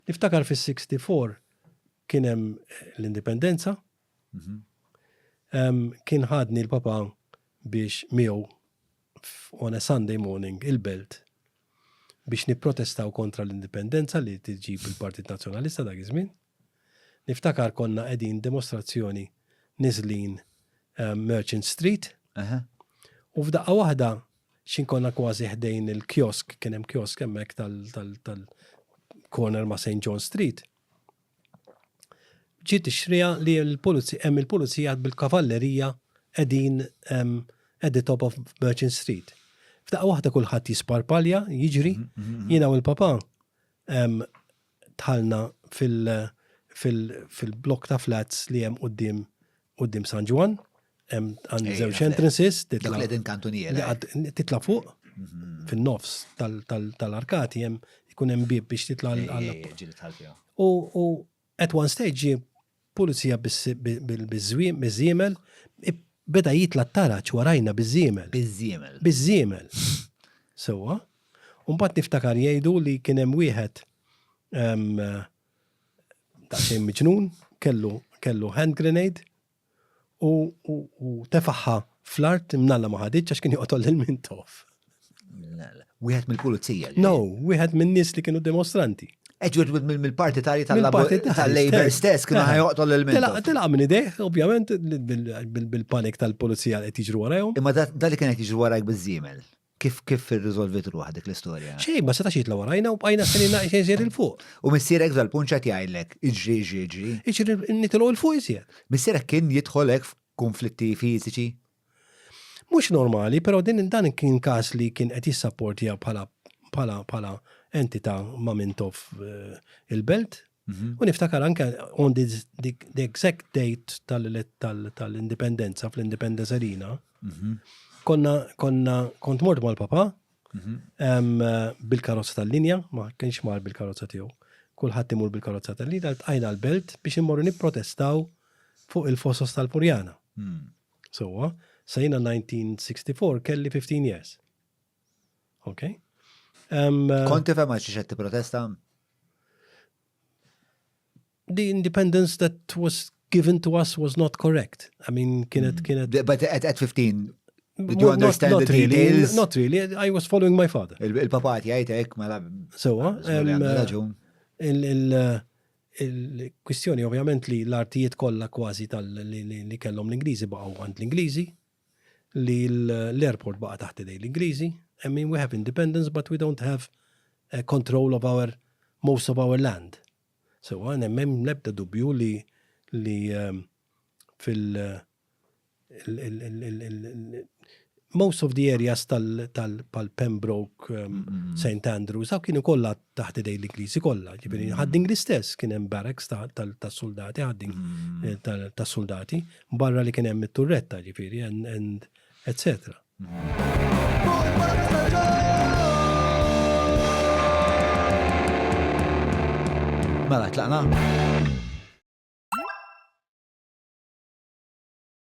Niftakar fis-64 kien hemm l-Indipendenza. Kien ħadni l-papa biex miegħu on a Sunday morning il-belt biex nipprotestaw kontra l-indipendenza li tiġib il-Partit Nazzjonalista dak iż-żmien. Niftakar konna qegħdin demostrazzjoni niżlin Merchant Street. U f'daqqa waħda X'in konna kważi ħdejn il-kiosk, kien hemm kiosk hemmhekk tal-corner ma' St. John Street. Ġiet ixtriha li l-pulizija hemm il-pulizija bil-kavallerija qegħdin at the top of Merchant Street. F'daqqa waħda kulħadd jisparpalja, jiġri, jiena u l-papa dħalna fil-blokk ta' flats li hemm quddiem quddiem San Ġwann, hemm għand żewġ entrances, titla' qegħdin kantuniera. Titla' fuq mhm. fin-nofs tal-arkati hemm ikun hemm bib biex titla' għal. U at one stage Pulizija biż-żwiemel, miż-żiemel, beda jitla' t-taraġ warajna biż-żiemel. Biż-żiemel. Biż-żiemel. Sewwa. U mbagħad niftakar jgħidu li kien hemm wieħed daqsxejn miġnun, kellu hand grenade U tefagħha fl-art imnalla ma ħaditx għax kien joqtol lil Mintoff. Wieħed mill-pulizija. No, wieħed min-nies li kienu dimostranti. Eġwed mill-partitarji tal-Labor stess kienu ħajoqtol lil Mintoff. Tilaq minn idejh, ovvjament, bil-panik tal-pulizija li qed jiġru warajhom. Imma dali kien qed jiġru warajk biż-żiemel. Kif kif irriżolvit ruħ dik l-istorja? Xejn, ma setax jitla' warajna u bqajna stenina xejn żjed il fuq. U missierek f'dal punt x'qed jgħidlek? Iġri, iġri, iġri. Iġri nitilgħu il fuq iżjed. Missierek kien jidħol hekk f'kunflitti fiżiċi? Mhux normali, però din dan kien każ li kien qed jissapportja bħala bħala bħala entità ma' minn toff il-belt. Mhm. U niftakar anke on the, the, the exact date tal-indipendenza tal, tal fl-Independence Arena, mm -hmm. konna, konna, kont mort mal-papa, mm -hmm. um, bil-karozza tal-linja, ma kienx mar bil-karozza tiegħu. Kulħadd imur bil-karozza tal-linja, tqajna l-belt biex immorru nipprotestaw fuq il-fosos tal-Purjana. Mm. Sowa, sajna 1964 kelli 15 years. Ok. Um, uh, Konti fem għax xed protesta? The independence that was given to us was not correct. I mean, kienet, hmm. kienet. But at, at 15, Did you understand not, not the really, details? Not really. I was following my father. Il-papa ti għajtek, mela. So, ah, um, uh, il-kwistjoni ovvjament li l-artijiet kollha kważi tal-li kellhom l-Ingliżi baqgħu għand l-Ingliżi, li l-airport baqa' taħt idejn l-Ingliżi, I mean we have independence but we don't have control of our most of our land. Sewwa m'hemm l-ebda dubju li li fil most of the areas tal pal Pembroke, St Andrews, dawk kienu kollha taħt idejn l-Ingliżi kollha, ġifieri Ħad-Dingli stess kien hemm barracks tas-suldati, Ħad-Dingli mm. eh, tas-suldati, barra li kien hemm it-turretta, ġifieri, and etc. Mela, tlaqna?